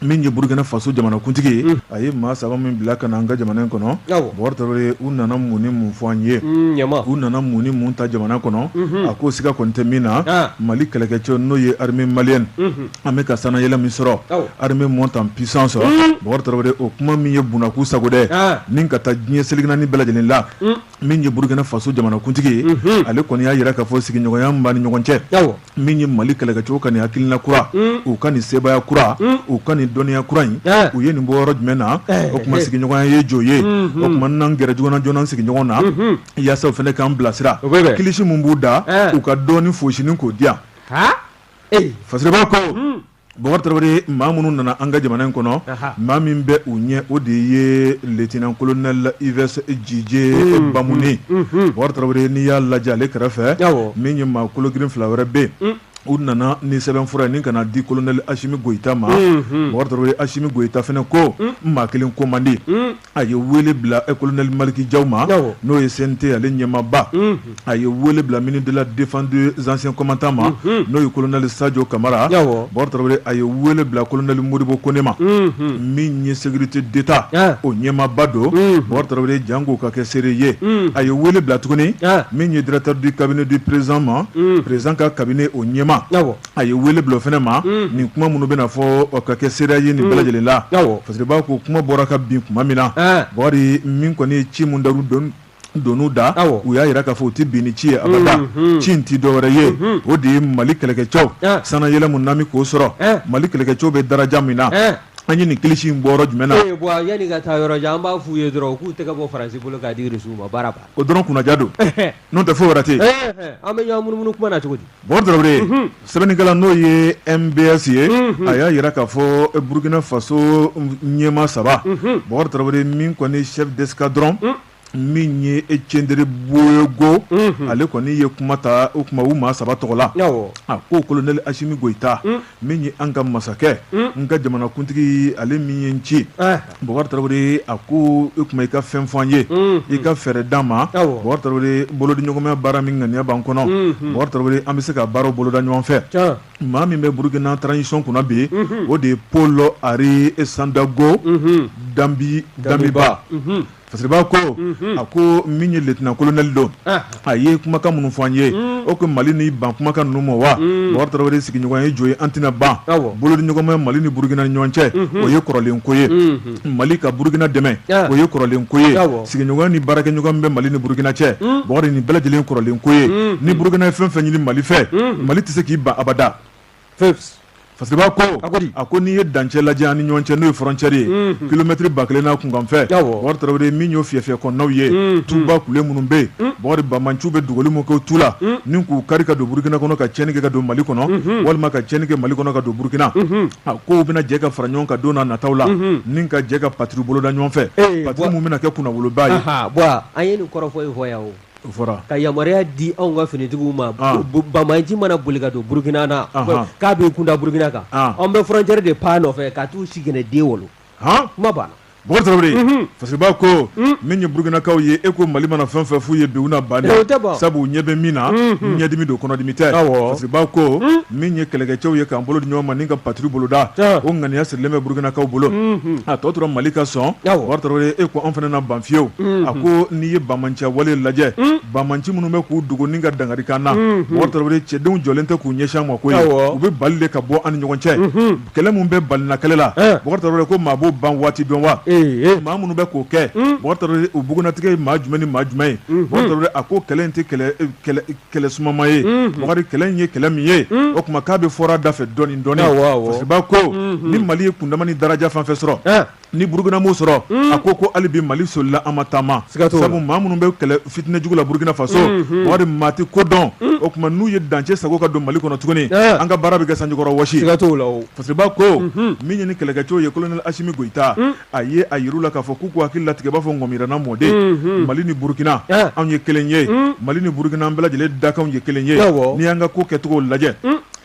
min ye burukina faso jamanakuntigi ye mm. a ye maa saba min bila ka na an ka jamana in kɔnɔ bokari tarawele u nana mun ni mun fɔ an ye mm, u nana mun ni mun ta jamana kɔnɔ mm-hmm. a ko siga kɔni tɛ min na ah. mali kɛlɛkɛcɛ n'o ye armée malienne mm-hmm. an bɛ ka sanayɛlɛ min sɔrɔ armée monte en puissance mm. bokari tarawele o kuma min ye bunaku sago dɛ ah. ni ka taa diɲɛ seleke naani bɛɛ lajɛlen la mm. min ye burukina faso jamanakuntigi ye ale kɔni y'a yira k'a fɔ sigiɲɔgɔnya min b'a ni ɲɔgɔn cɛ min ye mali kɛlɛkɛcɛw ka nin hakilina kura u ka nin sebaaya kura u ka nin dɔnniya kura in u ye nin bɔ yɔrɔ jumɛn na o kuma sigiɲɔgɔnya ye jo ye o kuma n'an gɛrɛ joona joona sigiɲɔgɔn na yaasa u fana k'an bilasira kilisi min b'u da u ka dɔɔni fosinin k'o di yan fasiriba ko Bokari Tarawele maa minnu nana an ka jamana in kɔnɔ, anhan, maa min bɛ u ɲɛ o de ye lieutenant colonel Yves Didier Bamuni, unhun, Bokari Tarawele n'i y'a lajɛ ale kɛrɛfɛ, awɔ, min ye maa kolo girin fila wɛrɛ bɛ yen, un, u nana ni sɛbɛnfura ye ni ka n'a di colonel Asimi Goyita ma, unhun, Bokari Tarawele Asimi Goyita fana ko, un, n maa kelen ko man di, un. a ye weele bila kolonɛli malikijaw ma n'o ye sente ale ɲɛmaba a ye weele bila mini dela defan zsɛn kɔmatan ma n'o ye kolonɛli sajɔ kamara bɔn a ye weele bila kolonɛli moriɔribo ko ne ma min ye seguriti deta o ɲɛmaba don bɔn jan k'u ka kɛ seere ye a ye weele bila tuguni min ye dtadi kabini di prezsan ma prezsan ka kabini o ɲɛma a ye wele bila o fana ma nin kuma minnu bɛna fɔ ka kɛ seereya ye nin bɛɛ lajɛlen la fasiriba ko kuma bɔra ka bin kuma min na bokari min kɔni ye ci min dar'u doni da u y'a yira k'a fɔ u tɛ bin ni ci ye abada ci in tɛ dɔwɛrɛ ye o de ye mali kɛlɛkɛcɛw sanayɛlɛ min n'an bɛ k'o sɔrɔ mali kɛlɛkɛcɛw bɛ daraja min na an ye nin kilisi in bɔ yɔrɔ jumɛn na yanni ka taa yɔrɔ jan an b'a f'u ye dɔrɔn k'u tɛgɛ bɔ faransi bolo k'a di rusiw ma baara ban o dɔrɔn kunnaja don N'o tɛ foyi wɛrɛ tɛ an bɛ ɲɔgɔn munumunu kuma na cogo di bokari tarawele sɛbɛnnikɛla n'o ye MBS ye a y'a yira k'a fɔ burukina faso ɲɛmaa saba bokari tarawele min kɔni chef d'escadron min ye kiendrebeogo ale kɔni ye kuma ta o kuma u maa saba tɔgɔ la a ko kolonɛli asimi goyita min ye an ka masakɛ n ka jamanakuntigi ale min ye n ci bokari tarawele a ko e kuma i ka fɛn fɔ an ye i ka fɛɛrɛ d'an ma bokari tarawele bolodiɲɔgɔnmaya baara min ŋaniya b'an kɔnɔ bokari tarawele an bɛ se ka baaraw boloda ɲɔgɔn fɛ maa min bɛ burukina transition kunna bi o de ye paul henri sandaogo da damiba Fasiriba ko a ko min ye lieutenant colonel don a ye kumakan minnu fɔ an ye o ko mali n'i ban kumakan ninnu ma wa bokari tarawele sigiɲɔgɔnya ye jo ye an tɛna ban bolodiɲɔgɔnma mali ni burukina ɲɔgɔn cɛ o ye kɔrɔlen ko ye mali ka burukina dɛmɛ o ye kɔrɔlen ko ye sigiɲɔgɔnya ni baarakɛɲɔgɔn min bɛ mali ni burukina cɛ bokari nin bɛɛ lajɛlen kɔrɔlen ko ye ni burukina ye fɛn fɛn ɲini mali fɛ mali tɛ se k'i ban abada Peps. Fasiriba ko a ko di a ko n'i ye dancɛ lajɛ an ni ɲɔgɔn cɛ n'o ye frontière ye unhun kilomètre ba kelen n'a kunkanfɛn awɔ Bɔkari Tarawele min y'o fiyɛfiyɛ kɔnɔnaw ye unhun tuba kule minnu bɛ yen unhun Bɔkari Banbaanciw bɛ dogoli mun kɛ o tu la unhun ni k'u kari ka don Burukina kɔnɔ ka tiɲɛni kɛ ka don Mali kɔnɔ unhun walima ka tiɲɛni kɛ Mali kɔnɔ ka don Burukina unhun a ko u bɛna jɛ ka fara ɲɔgɔn kan don n'a nataw la unhun ni ka jɛ ka patrouille boloda ɲɔgɔn fɛ ee patrouille mun bɛna kɛ kunnawoloba ye anhan bon an ye nin kɔrɔfɔ in fɔ yan o fɔra ka yamaruya di anw ka finitigiw ma ah. banbaanci mana boli ka don burukina na k'a b'i kunda burukina kan ah. an bɛ frontière de pan nɔfɛ ka t'u sigɛnɛ den wolo kuma banna bɔkari tarawele mhm. fasiriba ko mhm. min ye burukinakaw ye e ko mali mana fɛn fɛn f'u ye bi u na ban sabu u ɲɛ bɛ min na mhm. ɲɛdimi don kɔnɔdimi tɛ fasiriba ko min ye kɛlɛkɛcɛw ye k'an bolo di ɲɔgɔn ma ni ka patrouille boloda o ŋaniya sirilen bɛ burukinakaw bolo a tɔ tora mali ka sɔn bɔkari tarawele e ko an fana na ban fiyewu a ko n'i ye banbaanciya wale lajɛ banbaanci minnu bɛ k'u dogo ni ka dankari k'an na bɔkari tarawele cɛdenw jɔlen tɛ k'u ɲɛsin an ma koyi u bɛ bali de ka bɔ an ni ɲɔgɔn cɛ kɛlɛ mun bɛ balina kɛlɛ la bɔkari tarawele ko maa b'o ban waati dɔn wa maa minnu bɛ k'o kɛ bɔkari tarawele u bugunnatigɛ ye maa jumɛn ni maa jumɛn ye bɔkari a ko kɛlɛ in tɛ kɛlɛ sumama ye bɔkari kɛlɛ in ye kɛlɛ min ye o tuma k'a bɛɛ fɔra da fɛ dɔɔni dɔɔni fasiriba ko ni mali ye kundama ni daraja fɛn fɛn sɔrɔ ni burukina m'o sɔrɔ a ko ko hali bi mali solila an ma taama siga sabu maa minnu bɛ kɛlɛ fitinɛjugu la burukina faso bɔkari maa tɛ ko dɔn o tuma n'u ye dancɛ sagon ka don mali kɔnɔ tuguni an ka baara bɛ kɛ sanjikɔrɔ wɔsi ka la fasiriba ko min ye ni kɛlɛkɛcɛw ye colonel asimi goyita a ye a yir'u la k'a fɔ k'u k'u hakili latigɛ b'a fɔ ŋɔmirana mɔden mali ni burukina anw ye kelen ye mali ni burukina an bɛɛ lajɛlen dakan ye kelen ye n'i y'an ka ko kɛcogo lajɛ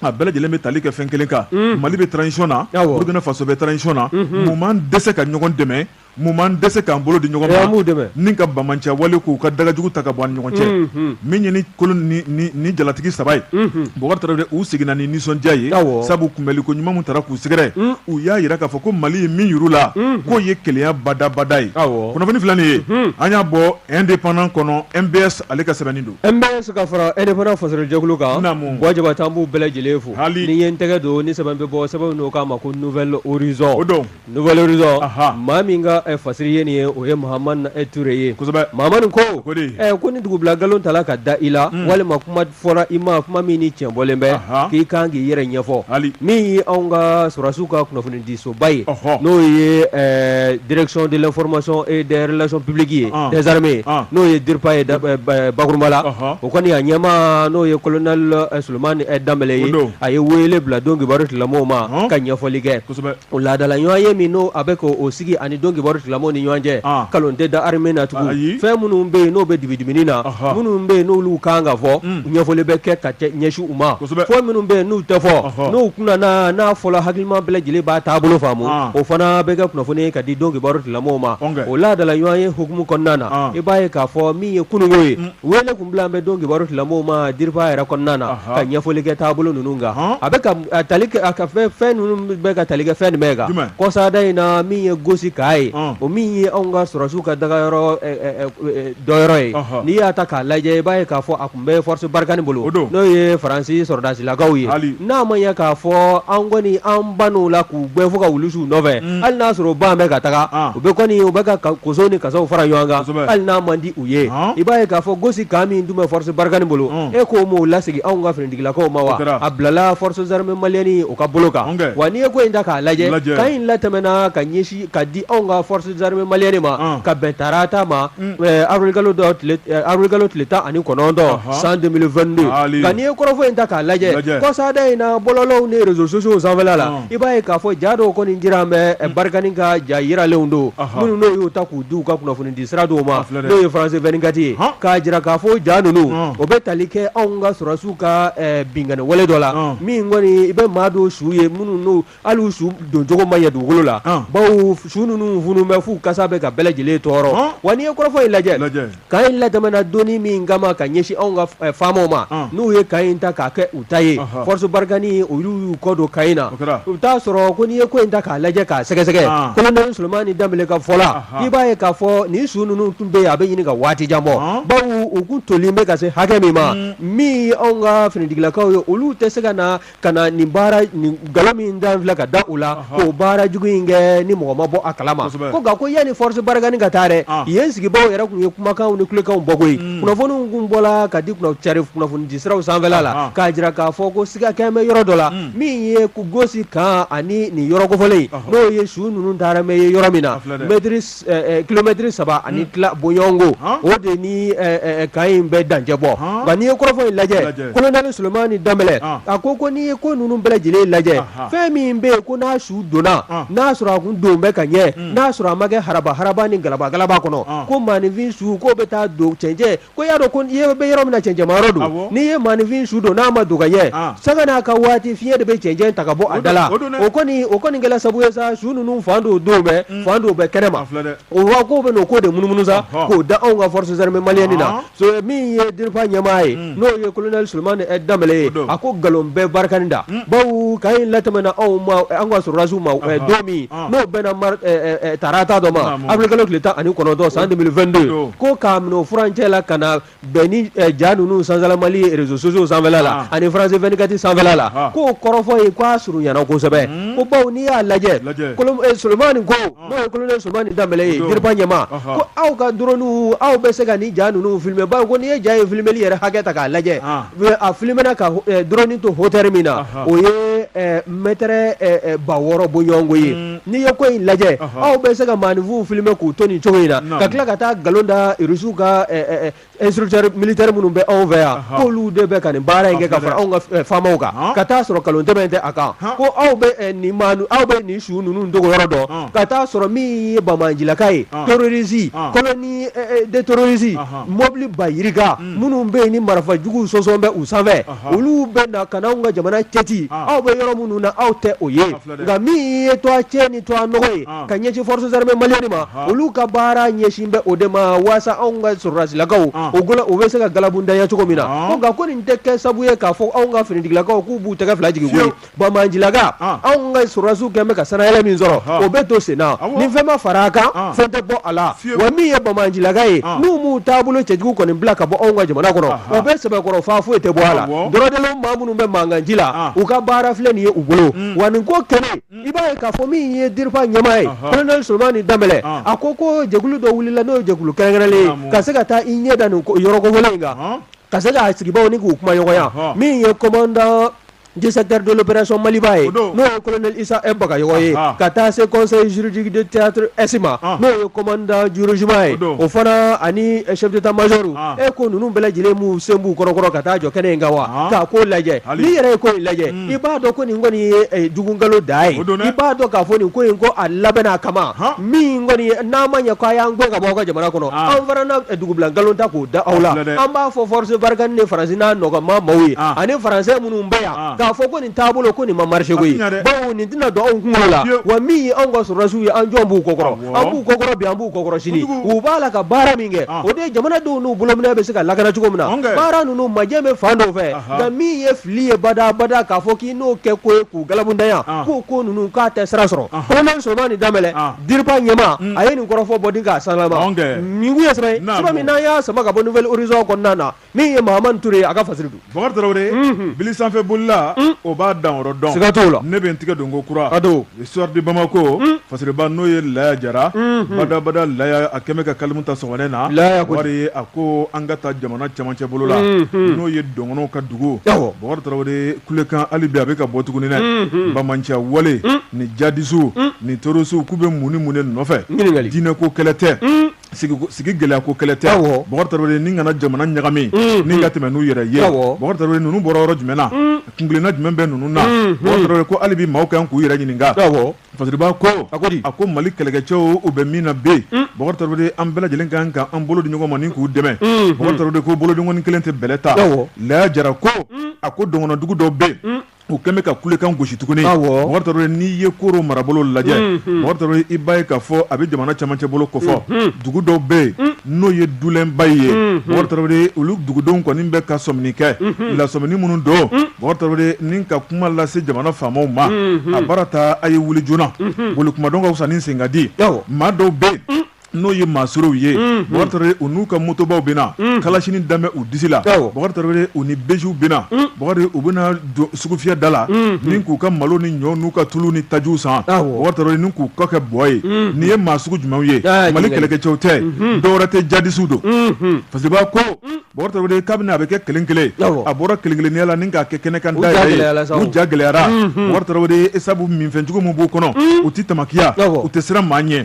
a bɛɛ lajɛlen bɛ tali kɛ fɛn kelen kan mali bɛ transition na burukina faso bɛ transition na mun b'an dɛsɛ ka ɲɔgɔn dɛmɛ mun b'an dɛsɛ k'an bolo di ɲɔgɔn ma ni ka banbaanciya wale k'u ka dagajugu ta ka bɔ an ni ɲɔgɔn cɛ min ye ni colonel ni jalatigi saba ye bɔkari tarawele u seginna ni nisɔndiya ye sabu kunbɛli ko ɲuman min taara k'u sɛgɛrɛ u y'a jira k'a fɔ ko mali ye min yir'u la k'o ye kelenya badabada ye kunnafoni filɛ nin ye an y'a bɔ indépendant kɔnɔ MBS ale ka sɛbɛnni don MBS ka fara indépendant fasirijɛkulu kan buwa jabate an b'u bɛɛ lajɛlen fo hali ni ye n tɛgɛ don ni sɛbɛn bɛ bɔ sɛbɛn n'o k'a ma ko nouvel horizon o don nouvel horizon maa min ka fasiri ye nin ye o ye mahamane e touré ye kosɛbɛ mahamane ko ko ni dugubila nkalon tala ka da i la walima kuma fɔra i ma kuma min ni tiɲɛ bɔlen bɛ k'i kan k'i yɛrɛ ɲɛfɔ hali min ye anw ka sɔrɔdasiw ka kunnafoni disoba ye n'o ye direction de l'information et des relations publiques ye des armées ye n'o ye DIRPA ye bakurunba la o kɔni a ɲɛmaa n'o ye colonel sulemani danbɛlɛ ye a ye wele bila don kibaru tilamɔgɔw ma ka ɲɛfɔli kɛ o laadadala ɲɔgɔn ye min n'o a bɛ k' o sigi a ni don kibaru tilamɔgɔw ni ɲɔgɔn cɛ nkalon tɛ da armée na tugun fɛn minnu bɛ yen n'o bɛ dibidibini na minnu bɛ yen n'olu kan ka fɔ ɲɛfɔli bɛ kɛ ka ɲɛsu fɔ minnu bɛ yen n'u tɛ fɔ n'u kun n'a fɔla hakilima bɛɛ lajɛlen b'a taabolo faamu o fana bɛ kɛ kunnafoni ye ka di don kibaru tigilamaaw ma o laadala ɲɔgɔnye hukumu kɔnɔna na i b'a ye k'a fɔ min ye kununko ye wele kun bila bɛ don kibaru tigilamaaw ma DIRPA yɛrɛ kɔnɔna na ka ɲɛfɔli kɛ taabolo ninnu kan a bɛ ka fɛn ninnu bɛ ka tali kɛ fɛn jumɛn kan kɔsada in na min ye gosi kan ye o min ye anw ka sɔrɔdasiw ka dagayɔrɔ dɔ yɔrɔ ye n'i y'a ta k'a lajɛ i b'a ye k'a fɔ n bɛ force barikani bolo o don n'o ye faransi sɔrɔdasilakaw ye hali n'a ma ya k'a fɔ an kɔni an bann'u la k'u gɛn fo ka wulu su u nɔfɛ Mm. hali n'a sɔrɔ u ban bɛ ka taga Ah. u bɛ kɔni u bɛ k'u ka koso ni kasaw fara ɲɔgɔn kan Kosɛbɛ. hali n'a man di u ye Ah. i b'a ye k'a fɔ gosi kan min dun bɛ force barikani bolo Mm. e k'o m'o lasegin anw ka finitigilakaw ma O wa kɛra. a bilala forces armées maliennes o ka bolo kan An kɛ. wa n'i ye ko in ta k'a lajɛ Lajɛ. kan in latɛmɛna ka ɲɛsin ka di anw ka forces armées maliennes ma ka bɛn tarata ma avril kalo tile tan ani kɔnɔntɔn san 2022 nka n'i ye kɔrɔfɔ in ta k'a lajɛ kɔsada in na bɔlɔlɔw ni réseaux sociaux sanfɛla la i b'a ye k'a fɔ ja dɔw kɔni jira an bɛ barikani ka ja yiralenw don minnu n'o y'u ta k'u di u ka kunnafoni di sira dɔw ma n'o ye France 24 ye k'a jira k'a fɔ ja ninnu o bɛ tali kɛ anw ka sɔrɔdasiw ka binkanni wale dɔ la min kɔni i bɛ maa dɔw su ye minnu Hali su doncogo ma ɲɛ dugukolo la bawo su ninnu funu bɛ f'u kasa bɛ ka bɛɛ lajɛlen tɔɔrɔ wa n'i ye kɔrɔfɔ in lajɛ kan in latɛmɛna don min ka ka ɲɛsin anw ka famaw ma n'u ye kan in ta k'a kɛ u ta ye force barikani olu y'u kɔ don kan in na u t'a sɔrɔ ko n'i ye ko in ta k'a lajɛ k'a sɛgɛsɛgɛ colonel Sulemani Danbɛlɛ ka fɔ la i b'a ye k'a fɔ ni su ninnu tun bɛ yen a bɛ ɲini ka waati jan bɔ bawo u kun tolen bɛ ka se hakɛ min ma min anw ka finitigilakaw ye olu tɛ se ka na ka na nin baara nin nkalon min da filɛ ka da u la k'o baara jugu in kɛ ni mɔgɔ ma bɔ a kalama ko nka ko yanni force barikani ka taa dɛ ah. yen sigibaaw yɛrɛ kun ye kumakanw ni kulekanw bɔ koyi hmm. kunnafoniw kun bɔla ka di cari kunnafonidi siraw sanfɛla la ah. k'a jira k'a fɔ ko siga kɛn bɛ yɔrɔ dɔ la hmm. min ye gosi kan ani nin yɔrɔ kofɔlen n'o ye su ninnu taara mɛ ye yɔrɔ min na mɛtiri kilomɛtiri saba ani tila bɔɲɔgɔnko o de ni kan in bɛ dancɛ bɔ nka n'i ye kɔrɔfɔ in lajɛ colonel Sulemani Danbɛlɛ a ko ko n'i ye ko ninnu bɛɛ lajɛlen lajɛ fɛn min bɛ yen ko n'a su donna n'a sɔrɔ a kun don bɛ ka ɲɛ n'a sɔrɔ a ma kɛ haraba haraba ni galaba galaba kɔnɔ ko maaninfin su k'o bɛ taa don cɛncɛn Ko y'a dɔn ko i bɛ yɔrɔ min na cɛncɛma yɔrɔ don, awɔ, n'i ye maaninfin su don n'a ma don ka ɲɛ, an, sanga n'a ka waati fiɲɛ de bɛ cɛncɛn ta ka bɔ a da la, o don dɛ, o kɔni o kɔni kɛla sabu ye sa su ninnu fan dɔw don bɛ, un, fan dɔw bɛ kɛnɛ ma, a filɛ dɛ, o wa k'o bɛna o ko de munumunu sa, ɔhɔ, k'o da anw ka forces armées maliennes na, ɔɔ, so min ye DIRPA ɲɛmaa ye, un, n'o ye colonel Sulemani Danbɛlɛ ye, o don, a ko nkalon bɛ barikani da, un, bawo kan in latɛmɛna anw ma, anw ka sɔrɔdasiw ma, ɔhɔ, don min n'o bɛnna tarata don ma avril kalo tile tan ani kɔnɔntɔn san 2022 ko k'a minɛ furancɛ la ka na bɛn ni ja ninnu sanzala Mali réseaux sociaux sanfɛla la ani France 24 sanfɛla la k'o kɔrɔfɔ ye k'a surunyana kosɛbɛ ko bawo n'i y'a lajɛ Solomani ko n'o ye colonel Solomani Danbɛlɛ ye DIRPA ɲɛmaa ko aw ka drone aw bɛ se ka nin ja ninnu filmer bawo ko n'i ye ja in filmeli yɛrɛ hakɛ ta k'a lajɛ A filmena ka drone to hauteur min na o ye mètre ba wɔɔrɔ bɔɲɔgɔnko ye n'i ye ko in lajɛ aw bɛ se ka maafinw filmer k'u to nin cogo in na ka tila ka taa nkalon da Rusiw ka instructeurs militaires minnu bɛ anw fɛ yan k'olu de bɛ ka nin baara in kɛ ka fara anw ka faamaw kan ka t'a sɔrɔ nkalon tɛmɛn tɛ a kan ko aw bɛ nin aw bɛ nin su ninnu dogo yɔrɔ dɔn ka t'a sɔrɔ min ye banbaancilaka ye terroristes colonne de terroristes mɔbili ba yiri minnu bɛ yen ni marifa jugu sɔsɔn bɛ u sanfɛ olu bɛ na ka na anw ka jamana cɛti aw bɛ yɔrɔ minnu na aw tɛ o ye nka min ye to a cɛ ni to a nɔgɔ ye ka ɲɛsin forces armées maliennes ma olu ka baara ɲɛsin bɛ o de ma waasa anw ka sɔrɔdasilakaw o bɛ se ka galabundanya cogo min na nka ko nin tɛ kɛ sabu ye k'a fɔ anw ka finitigilakaw k'u b'u tɛgɛ fila jigin Banbaancilaka, an, anw ka sɔrɔdasiw kɛlen bɛ ka sanayɛlɛ min sɔrɔ, ɔhɔ, o bɛ to sen na, awɔ, ni fɛn ma fara a kan, an, fɛn tɛ bɔ a la, fiyewu, wa min ye banbaancilaka ye, an, n'u m'u taabolo cɛjugu kɔni bila ka bɔ anw ka jamana kɔnɔ, aha, o bɛ sɛbɛkɔrɔ faa foyi tɛ bɔ a la, awɔ, dɔrɔdɛlɛw maa minnu bɛ mankanji la, an, u ka baara filɛ nin ye u bolo, un, wa nin ko kɛlen, un, i b'a ye k'a fɔ min ye DIRPA ɲɛmaa ye, ɔhɔ, Colonel Solomani Danbɛlɛ, an, a ko ko jɛkulu dɔ wulila n'o ye jɛkulu kɛrɛnkɛrɛnlen ye, naamu, ka se ka taa i ɲɛ da nin ko yɔrɔ kofɔlen in kan, ɔnhɔn, ka se k'a sigibaaw ni k'u kumaɲɔgɔnya, ɔhɔ. min ye commandant du secteur de l'opération Maliba ye, o don, n'o ye colonel Issa M. Bagayoko ye, Anhan. ka taa se conseil juridique de théâtre Est ma, An. n'o ye commandant du régiment ye, O don. o fana ani chef d'état major, An. e ko ninnu bɛɛ lajɛlen m'u sen b'u kɔrɔkɔrɔ ka taa jɔ kɛnɛ in kan wa, An. k'a ko lajɛ, Hali. n'i yɛrɛ ye ko in lajɛ, Mm. i b'a dɔn ko nin kɔni ye eh, jugu nkalon da ye, O don dɛ. i b'a dɔn k'a fɔ nin ko in ko a labɛnna a kama, Han. min kɔni ye n'a ma ɲɛ ko a y'an gɛn ka bɔ aw ka jamana kɔnɔ an fana na dugubila nkalon ta k'o da aw la an b'a fɔ force Barkhane ni Faransi n'a nɔgɔma maaw ye ani Français minnu bɛ yan k'a fɔ ko nin taabolo ko nin ma marché koyi bawo nin tɛna don anw kunkolo la wa min ye anw ka sɔrɔdasiw ye an jɔn b'u kɔkɔrɔ an b'u kɔkɔrɔ bi an b'u kɔkɔrɔ sini u b'a la ka baara min kɛ o de ye jamanadenw n'u bolominɛ bɛ se ka lakana cogo min na baara ninnu majɛ bɛ fan dɔw fɛ nka min ye fili ye badaa badaa k'a fɔ k'i n'o kɛ ko ye k'u galabundanya k'o ko ninnu k'a tɛ sira sɔrɔ colonel Solomani Danbɛlɛ DIRPA ɲɛmaa mm. a ye nin kɔrɔfɔ bɔden k'a sanlaba nin kun ye sɛbɛn ye sɛbɛn min n'an y'a sama ka bɔ Nouvel Horizon kɔnɔna na min ye Mahamani Ture ye a ka fasiri don Bakari Tarawele mm-hmm. bili sanfɛ bolila mm. o b'a danyɔrɔ dɔn siga t'o la ne bɛ n tigɛ don ko kura a don Le Soir de Bamako mm. fasiriba n'o ye Laya Jara mm-hmm. badabada Laya a kɛmɛ ka kalimu ta sɔgɔmada in na wari a ko an ka taa jamana cɛmancɛ bolo la mm-hmm. n'o ye Dɔgɔnɔw ka dugu bakari tarawele kulekan hali bi a bɛ ka bɔ tuguni dɛ banmanciya wale ni jadisuw ni torosuw k'u bɛ mun ni mun de nɔfɛ diinɛ ko kɛlɛ tɛ sigi gɛlɛya ko kɛlɛ tɛ bakari tarawele ni ka na jamana ɲagami ni ka tɛmɛ n'u yɛrɛ ye bakari tarawele ninnu bɔra yɔrɔ jumɛn na kungilenna jumɛn bɛ ninnu na bakari tarawele ko hali bi maaw kan k'u yɛrɛ ɲininka Fasiriba ko a a ko mali kɛlɛkɛcɛw u bɛ min na bi bakari tarawele an bɛɛ lajɛlen kan ka an bolo di ɲɔgɔn ma ni k'u dɛmɛ bakari tarawele ko bolodenkɔni kelen tɛ bɛlɛ ta laya jara ko a ko dɔgɔnɔndugu dɔw bɛ yen u kɛlen bɛ ka kulekan gosi tuguni bakari tarawele n'i ye koro marabolo lajɛ bakari tarawele i b'a ye k'a fɔ a bɛ jamana cɛmancɛ bolo kofɔ dugu dɔw bɛ yen n'o ye dulɛnba ye bakari tarawele olu dugudenw kɔni bɛ ka sɔmini kɛ lasɔmini minnu don Bakari tarawele ni ka kuma lase jamana faamaw ma a baara ta a ye wuli joona boli kuma dɔn ka fisa ni sen ka di maa dɔw bɛ yen n'o ye maasolow ye bakari tarawele u n'u ka motobaw bɛ na kalasini dan bɛ u disi la bakari tarawele u ni bejiw bɛ na bakari u bɛ na sugufiyɛ da la ni k'u ka malo ni ɲɔ n'u ka tulu ni tajiw san bakari tarawele ni k'u kɔ kɛ bɔ ye nin ye maa sugu jumɛnw ye mali kɛlɛkɛcɛw tɛ dɔwɛrɛ tɛ jadisuw don fasiriba ko Bakari tarawele kabini a bɛ kɛ kelen kelen a bɔra kelen kelenya la ni k'a kɛ kɛnɛ kan da yɛrɛ ye u ja gɛlɛyara bakari tarawele sabu minfɛnjugu min b'u kɔnɔ u tɛ tamakiya u tɛ siran maa ɲɛ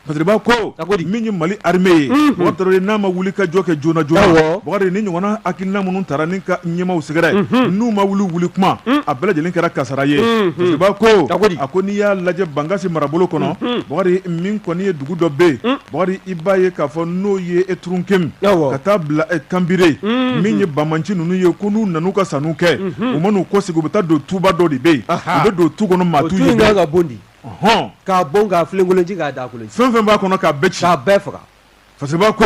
fasiriba ko min ye mali armée ye bakari tarawele n'a ma wuli ka jɔ kɛ joona joona bakari nin ɲɔgɔnna hakilina minnu taara ni ka ɲɛmaw sɛgɛrɛ n'u ma wuli wuli kuma a bɛɛ lajɛlen kɛra kasara ye fasiriba ko a ko n'i y'a lajɛ bankasi marabolo kɔnɔ bakari min kɔni ye dugu dɔ bɛ yen Bakari i b'a ye k'a fɔ n'o ye eturunkem ka taa bila kanbire min ye banmanci ninnu ye ko n'u nan'u ka sanw kɛ u man'u kɔsegin u bɛ taa don tuba dɔ de bɛ yen u bɛ don tu kɔnɔ maa t'u ye ka ka bonɔni hɔn k'a bon k'a filenkolon ci k'a daa kolon ci fɛn fɛn b'a kɔnɔ k'a bɛɛ ci k'a bɛɛ faga fasiriba ko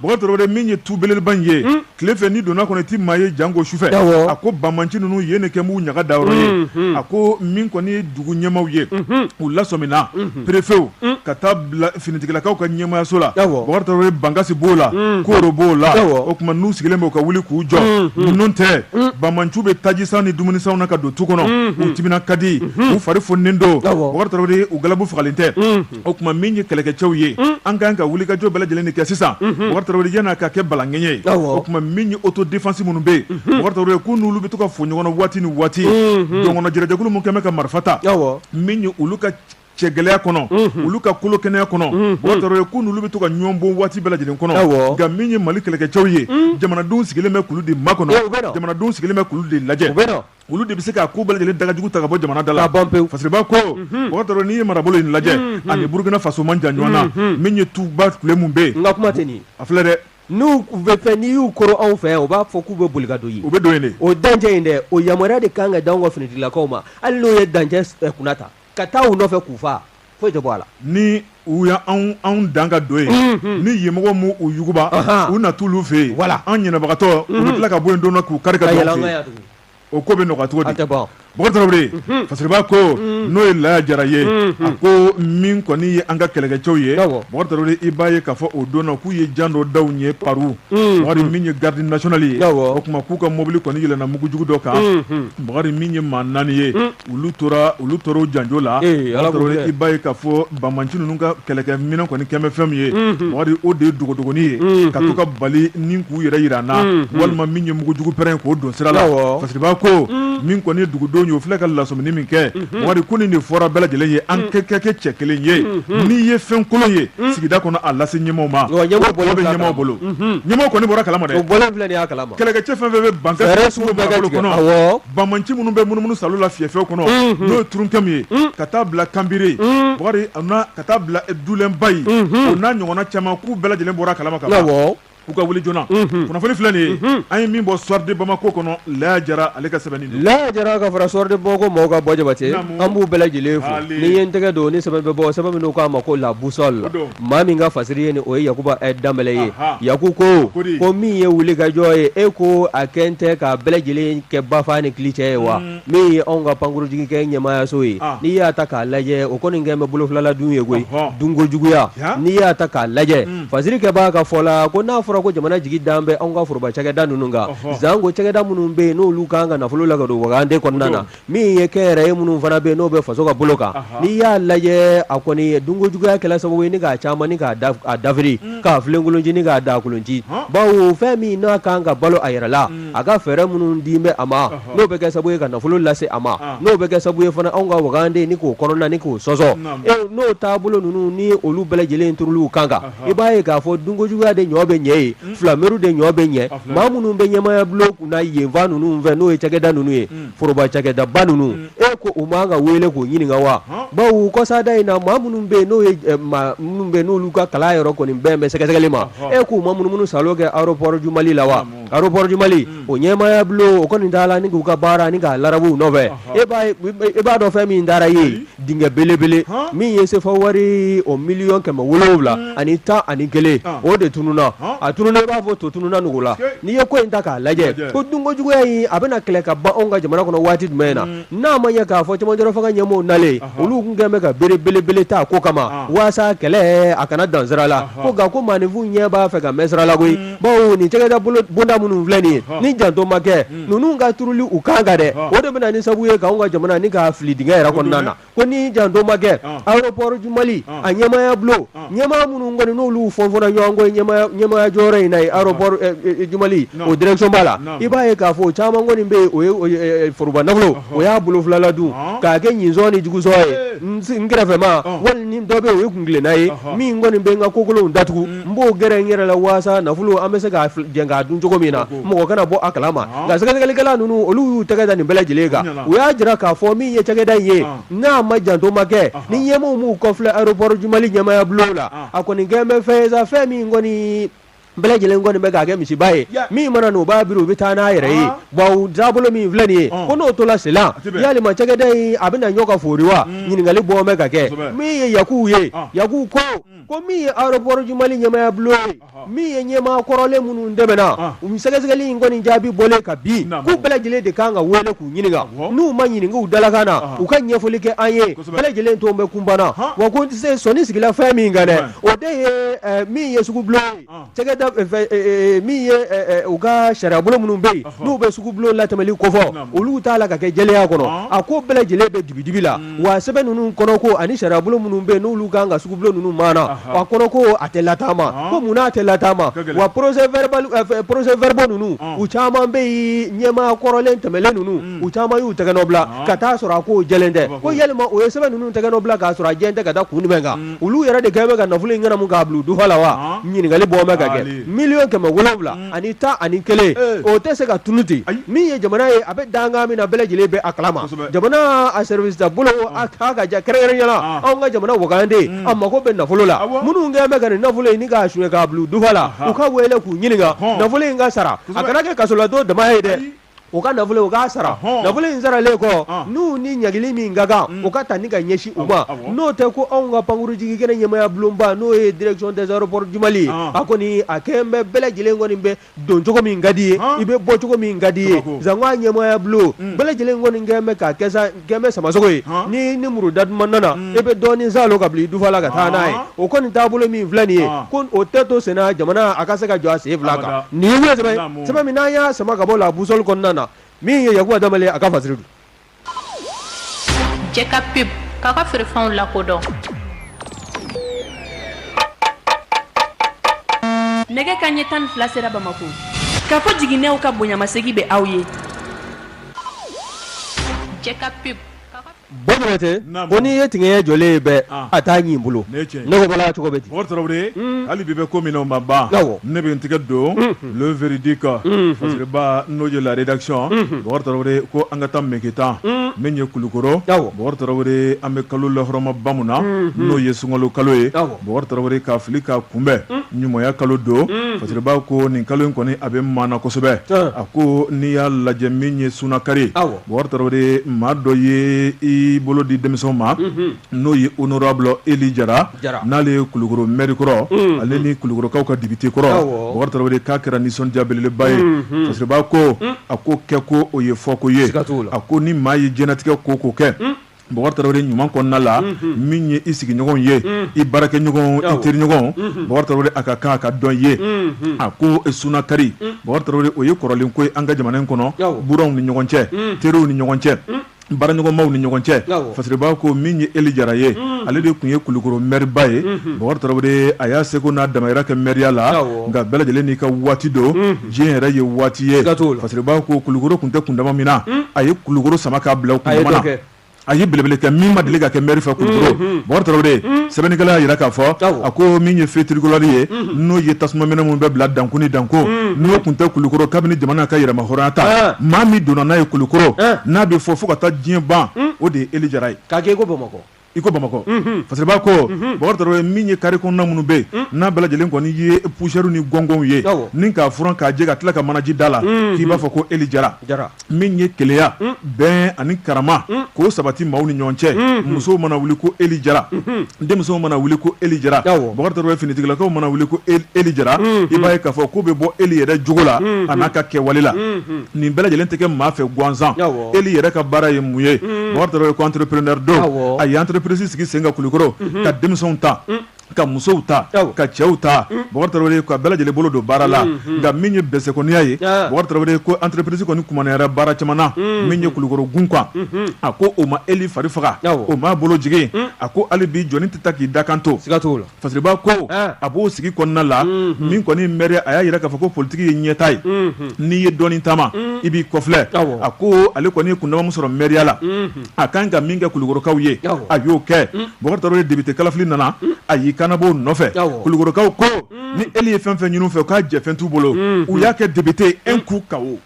bakari tarawele min ye tu belebeleba in ye tile fɛ n'i donna kɔnɔ i tɛ maa ye janko sufɛ a ko banmanci ninnu yen ne kɛ b'u ɲaga da yɔrɔ ye a ko min kɔni ye dugu ɲɛmaw ye u lasɔmina perefew ka taa bila finitigilakaw ka ɲɛmayaso la bakari tarawele bankasi b'o la koro b'o la o tuma n'u sigilen bɛ u ka wuli k'u jɔ n'o tɛ banmanciw bɛ tajisan ni dumunisanw na ka don tu kɔnɔ u timina ka di u fari foninen don bakari tarawele u galabu fagalen tɛ o tuma min ye kɛlɛkɛcɛw ye an ka kan ka wuli ka jɔ bɛɛ lajɛlen kɛ sisan bakari tarawele yann'a ka kɛ balangɛɲɛ ye o tuma min ye autodéfense minnu bɛ yen bakari tarawele k'u n'olu bɛ to ka fɔ ɲɔgɔn na waati ni waati dɔgɔnɔn jɛrɛjɛkulu min kɛlen bɛ ka marifa ta min ye olu ka cɛ gɛlɛya kɔnɔ olu ka kolo kɛnɛya kɔnɔ bakari tarawele k'u n'olu bɛ to ka ɲɔgɔn bon waati bɛɛ lajɛlen kɔnɔ nka min ye mali kɛlɛkɛcɛw ye jamanadenw sigilen bɛ k'olu de makɔnɔ jamanadenw sigilen bɛ k'olu de lajɛ olu de bɛ se k'a ko bɛɛ lajɛlen dagajugu ta ka bɔ jamana da la fasiriba ko mhm. bakari tarawore n'i ye marabolo in lajɛ mhm. ani burukina faso man jan ɲɔgɔn na mhm. min ye tuba tile min bɛ yen nka kuma tɛ nin a filɛ dɛ n'u bɛ fɛ n'i y'u koron anw fɛ yan u b'a fɔ k'u bɛ boli ka don yen u bɛ don yen de o dancɛ in dɛ o yamaruya de kan ka d'anw ka finitigilakaw ma hali n'o ye dancɛ eh, kunna ta ka taa u nɔfɛ k'u faa foyi tɛ bɔ a la ni u y' anw dan ka don yen ni yen mɔgɔw m'u yuguba u na t'olu fɛ yen wala an ɲɛnabagatɔ u bɛ tila ka bɔ yen don k'u kari o ko bɛ nɔgɔya cogo di bakari fasiriba ko n'o ye laya jara ye a ko min kɔni ye an ka kɛlɛkɛcɛw ye bakari i b'a ye k'a fɔ o don na k'u ye jan dɔ da u ɲɛ paru bakari min ye garde nationale ye o tuma k'u ka mobili kɔni yɛlɛnna mugujugu dɔ kan bakari min ye maa naani ye olu tora olu tora o janjo la i b'a ye k'a fɔ banmanci ninnu ka kɛlɛkɛminɛn kɔni kɛn bɛ fɛn min ye bakari o de ye dogodogonin ye ka to ka bali ni k'u yɛrɛ jira an na walima min ye mugujugu pɛrɛn k'o don sira la fasiriba ko min kɔni ye dugudenw ye o filɛ ka lasɔmini min kɛ bakari ko nin de fɔra bɛɛ lajɛlen ye an kɛ kɛ kɛ cɛ kelen ye n'i ye fɛn kolon ye sigida kɔnɔ a lase ɲɛmaaw ma bɛ ɲɛmaaw bolo ɲɛmaaw kɔni bɔra kalama kɛlɛkɛcɛ fɛn fɛn bɛ ban banmanci minnu bɛ munumunu salo la fiyɛfɛw kɔnɔ n'o ye turunkɛmu ye ka taa bila kanbiri bakari ka taa bila dulenba ye o n'a ɲɔgɔnna caman k'u bɛɛ lajɛlen bɔra kalama ka u ka wuli joona kunnafoni filɛ nin ye an ye min bɔ soir de bamako kɔnɔ laya jara ale ka sɛbɛnni don laya jara ka fara soir de bamako mɔgɔw kan bɔ jabate an b'u bɛɛ lajɛlen fo ni ye n tɛgɛ don ni sɛbɛn bɛ bɔ sɛbɛn min k'a ma ko la boussole la maa min ka fasiri ye nin o ye yakuba eh, danbɛlɛ ye yaku ko ko min ye wulikajɔ ye e ko a kɛn tɛ ka bɛɛ lajɛlen kɛ bafa ni kili cɛ ye wa mm. min ye anw ka pankurunjiginkɛnɛ ɲɛmaayaso ye ah. n'i y'a ta k'a lajɛ o kɔni kɛn bɛ bolofilaladun ye koyi dunkojuguya n'i y'a ta k'a lajɛ mm. fasirikɛba ka fɔ la ko n'a fɔra ko jamana jigi dan bɛ anw ka foroba cakɛda ninnu kan janko cakɛda minnu bɛ yen n'olu kan ka nafolo la ka don wagande kɔnɔna na min ye kɛnyɛrɛye minnu fana bɛ yen n'o bɛ faso ka bolo kan n'i y'a lajɛ a kɔni dunkojuguya kɛla sababu ye ni k'a caman ni k'a dafiri k'a filenkolonci ni k'a dagakolonci bawo fɛn min n'a kan ka balo a yɛrɛ la a ka fɛɛrɛ minnu di bɛ a ma n'o bɛ kɛ sababu ye ka nafolo lase a ma n'o bɛ kɛ sababu ye fana anw ka wagande ni k'o kɔnɔna ni k'o sɔsɔ n'o taabolo ninnu ni olu bɛɛ lajɛlen tuuru kan kan i b'a ye k'a fɔ dunkojuguya de ɲɔ bɛ ɲɛ ye filameuru de ɲɔ bɛ ɲɛ maa minnu bɛ ɲɛmaya bulon na yenfan ninnu fɛ n'o ye cakɛda ninnu ye foroba cakɛdaba ninnu e ko u man ka wele k'o ɲininka wa bawo kɔsada in na maa minnu bɛ yen n'o ye ɛ, maa minnu bɛ yen n'olu ka kalan yɔrɔ kɔni bɛn bɛ sɛgɛsɛgɛli ma e k'u ma munumunu salo kɛ aéroport du Mali la wa aéroport du Mali o ɲɛmaaya bulon o kɔni taala ni k'u ka baara ni k'a larabuw nɔfɛ e b'a ye e b'a dɔn fɛn min dara i ye dingɛ belebele min ye sefa wari o miliyɔn kɛmɛ wolonwula ani tan ani kelen o de tununna a tununna i b'a fɔ to tununna nugu la n'i ye ko in ta k'a lajɛ ko dunkojuguya in a bɛna kɛlɛ ka ban anw ka jamana kɔnɔ waati jumɛn na n'a ma ɲɛ k'a fɔ cɛmancɛ fanga ɲɛmaaw nalen olu tun kɛlen bɛ ka bere belebele ta ko kama walasa kɛlɛ a kana dan sira la ko nka ko maaninfin ɲɛ b'a fɛ ka mɛn sira la koyi bawo nin cakɛda bonda minnu filɛ nin ye ni janto ma kɛ ninnu ka turuli u kan kan dɛ o de bɛna ni sabu ye k'anw ka jamana ni k'a fili dingɛ yɛrɛ kɔnɔna na ko ni janto ma kɛ aéroport du Mali a ɲɛmaya bulon ɲɛmaa minnu kɔni n'olu fɔnfɔnna ɲɔgɔn kɔ ɲɛmaya jɔyɔrɔ in na ye aéroport du Mali o direction ba la i b'a ye k'a fɔ caman kɔni bɛ yen o ye foroba nafolo o y'a bolo fila la dun k'a kɛ ɲinsɔn ni jugusɔn ye n kɛrɛfɛmaa wala ni dɔ bɛ yen o ye kun kelenna ye min kɔni bɛ n ka kokolonw datugu n b'o gɛrɛ n yɛrɛ la walasa nafolo an bɛ se ka jɛ k'a dun cogo min na mɔgɔ kana bɔ a kala ma nka sɛgɛsɛgɛlikɛla ninnu olu y'u tɛgɛ da nin bɛɛ lajɛlen kan u y'a jira k'a fɔ min ye cakɛda in ye n'a ma janto ma kɛ ni ɲɛmaaw m'u kɔfilɛ aéroport du Mali ɲɛmaya bulon la a kɔni kɛn bɛ fɛn ye sa fɛn min kɔni bɛɛ lajɛlen kɔni bɛ k'a kɛ misiba ye min mana n'u b'a biri u bɛ taa n'a yɛrɛ ye wa taabolo min filɛ nin ye ko n'o tola senna yalima cakɛda in a bɛna ɲɔ ka fori wa ɲininkali bɔ bɛ ka kɛ min ye Yakubu ye Yakubu Ko min ye aéroport du Mali ɲɛmaaya bulon ye, ɔhɔ, min ye ɲɛmaa kɔrɔlen minnu tɛmɛna, an, u sɛgɛsɛgɛli in kɔni jaabi bɔlen ka bi, naamu, k'u bɛɛ lajɛlen de ka kan ka wele k'u ɲininka, awɔ, n'u ma ɲininka u dalakan na, ɔhɔ, u ka ɲɛfɔli kɛ an ye, kosɛbɛ, bɛɛ lajɛlen tun bɛ kunpan na, han, wa ko n tɛ se sɔnni sigila fɛn min kan dɛ, o de ye ɛ min ye sugubulon ye, an Cakɛda min fɛ ɛɛ min ye ɛɛ u ka sariyabolo minnu bɛ yen, ɔhɔ, n'u bɛ sugu bulon latɛmɛli kofɔ, naamu, olu t'a la ka kɛ jɛlenya kɔnɔ, ɔn, a ko bɛɛ lajɛlen bɛ dibi-dibi la, un, wa sɛbɛn ninnu kɔnɔ ko ani sariyabolo minnu bɛ yen n'olu ka kan ka sugu bulon ninnu maana, ɔhɔ, a kɔnɔ ko a tɛ lataama, ɔn, ko munna a tɛ lataama, a ka gɛlɛn, wa procès verbal ɛɛ procès verbaux ninnu, ɔn, u caman bɛ yen ɲɛmaa kɔrɔlen tɛmɛnen ninnu, un, u caman y'u tɛgɛnɔ bila, ɔn, ka t'a sɔrɔ a kow jɛlen tɛ, ko yalima o ye sɛbɛn ninnu tɛgɛnɔ bila k'a sɔrɔ a jɛlen tɛ ka da kun jumɛn kan olu yɛrɛ de kɛn bɛ ka nafolo in ɲɛnamu k'a bila u dufa la wa ɲininkali bɔ bɛ ka kɛ Aali. miliyɔn kɛmɛ wolonwula ani tan ani kelen Ee. o tɛ se ka tunun ten Ayi. min ye jamana ye a bɛ dankan min na bɛɛ lajɛlen bɛ a kalama Kosɛbɛ. jamana a service ta bolo a ka ja kɛrɛnkɛrɛnya la Ah. anw ka jamana wagande a mago bɛ nafolo la Awɔ. minnu kɛn bɛ ka nin nafolo in ni k'a suɲɛ k'a bila u dufa la Aha. u ka wele k'u ɲininka Hɔn. nafolo in ka sara a Kosɛbɛ. kana kɛ kasoladon dama ye dɛ Ayi. u ka nafolo u k'a sara nafolo in saralen kɔ n'u ni ɲangili min ka kan mm. o ka ta ni ka ɲɛsin u ma n'o tɛ ko anw ka pankurunjigi kɛnɛ ɲɛmaya bulonba n'o ye direction des aéroports du Mali a kɔni a kɛlen bɛ bɛɛ lajɛlen kɔni bɛ don cogo min ka d'i ye i bɛ bɔ cogo min ka d'i ye sanko a ɲɛmaya bulon mm. bɛɛ lajɛlen kɔni kɛlen bɛ k'a kɛ sa Gɛnmɛ samasogo ye han n'i ni muru da duman nana unn i be dɔɔnin salo ka bila i dufa la ka taa n'a ye ɔnhɔn o kɔni taabolo min filɛ nin ye ɔnhɔn ko o tɛ to senna jamana a ka se ka jɔ a sen 2 kan abada nin ye ɲɛ sɛbɛn ye naamu sɛbɛn min n'an y'a sama ka bɔ la boussole kɔnɔna na min ye Yakuba Danbɛlɛ ye a ka fasiri don Jɛ ka pub k'a ka feerefɛnw lakodɔn Nɛgɛ kaɲɛ tan ni fila sera Bamako. Kafo Jiginɛw ka bonyamasegin bɛ aw ye. Batɛ ko n'i ye tigɛ jɔlen ye bɛɛ a taa y'i bolo cogo bɛ ten hali bi bɛ ko min o ma ban ne bɛ n tɛgɛ don ieredi kan n'o ye lare dakicɔn ko an ka taa mke tan min ye kulukɔrɔ an bɛ kalo laɔrɔma bamanan na n'o ye sunka kalo ye Bɔkari tarawele k'a fili k'a kunbɛn ɲumanya kalo don fasiriba ko nin kalo in kɔni a bɛ maana kosɛbɛ a ko n'i y'a lajɛ min ye sunakari Bɔkari tarawele maa dɔ ye i bolo di denmisɛnw ma n'o ye honorable Eli Jara n'ale ye kulukɔrɔ maire kɔrɔ ale ni kulukɔrɔkaw ka député kɔrɔ Bɔkari tarawele k'a kɛra nisɔndiya belebeleba ye fasiriba ko a ko kɛko o ye fɔko ye a ko ni maa ye diɲɛnatigɛ ko ko kɛ Bɔkari Tarawele ɲuman kɔnɔna la, unhun, min ye i sigiɲɔgɔnw ye, unhun, i baarakɛɲɔgɔnw, awɔ, i teriɲɔgɔnw, unhun, Bɔkari Tarawele a ka kan a ka dɔn i ye, unhun, a ko sunakari, un, Bɔkari Tarawele o ye kɔrɔlen ko ye an ka jamana in kɔnɔ, awɔ, buranw ni ɲɔgɔn cɛ, un, teriw ni ɲɔgɔn cɛ, un, baaraɲɔgɔnmaw ni ɲɔgɔn cɛ, awɔ, Fasiriba ko min ye Eli Jara ye, un, ale de tun ye Kulikoro maire ba ye, unhun, Bɔkari Tarawele a y'a seko n'a damayira kɛ maire ya la, awɔ, nka bɛɛ lajɛlen n'i ka waati don, unhun. diɲɛ yɛrɛ ye waati ye fasiriba ko kulukoro tun tɛ kundama min na a ye kulukoro sama k'a bila o kundama na a ye belebele kɛ min ma deli ka kɛ maire fɛ kulukoro Bɔkari Tarawele sɛbɛnnikɛla y'a jira k'a fɔ a ko min ye feu tricolore ye n'o ye tasuma minɛ minnu bɛ bila dankun ni dankun n'o tun tɛ kulukoro kabini jamana k'a yɛrɛmahɔrɔnya ta maa min donna n'a ye kulukoro n'a bɛ fɔ fo ka taa diɲɛ ban o de ye Eli Jara ye i ko bamakɔ fasiriba ko Bɔkari Tarawele min ye carré kɔnɔna minnu bɛ yen a bɛɛ lajɛlen kɔni ye poussière ni gɔngɔnw ye ni k'a furan k'a jɛ ka tila ka manaji da la k'i b'a fɔ ko Eli Jara Jara min ye kelenya bɛn ani karama k'o sabati maaw ni ɲɔgɔn cɛ musow mana wuli ko Eli Jara denmusow mana wuli ko Eli Jara Bɔkari Tarawele finitigilakaw mana wuli ko Eli Jara i b'a ye k'a fɔ k'o bɛ bɔ Eli yɛrɛ jogo la an'a ka kɛwale la nin bɛɛ lajɛlen tɛ kɛ maa fɛ gansan Eli yɛrɛ ka baara ye mun ye Bɔkari Tarawele ko entrepreneur don a ye entreprise sigi sen kan kulukɔrɔ ka denmisɛnw ta ka musow ta ka cɛw ta Bɔkari Tarawele ka bɛɛ lajɛlen bolo don baara la nka min ye bɛsɛkɔniya ye Bɔkari Tarawele ko entreprise kɔni kumaniyara baara caman na min ye kulukoro gun kan a ko o ma Eli fari faga o m'a bolo jigin a ko hali bi jɔnni tɛ taa k'i dakan to Fasiriba ko a b'o sigi kɔnɔna la min kɔni ye mɛriya a y'a jira k'a fɔ ko politigi ye ɲɛta ye n'i ye dɔɔni taama i b'i kɔfilɛ a ko ale kɔni ye kundama min sɔrɔ mɛriya la a kan ka min kɛ Kulukorokaw ye a y'o kɛ Bukari Tarawele depite kalafili nana a y'i kanbɔ nɔfɛ Kulukorokaw ko ni Ely ye fɛn o fɛn ɲini u fɛ k'a jɛfɛn t'u bolo u y'a kɛ depite un coup KO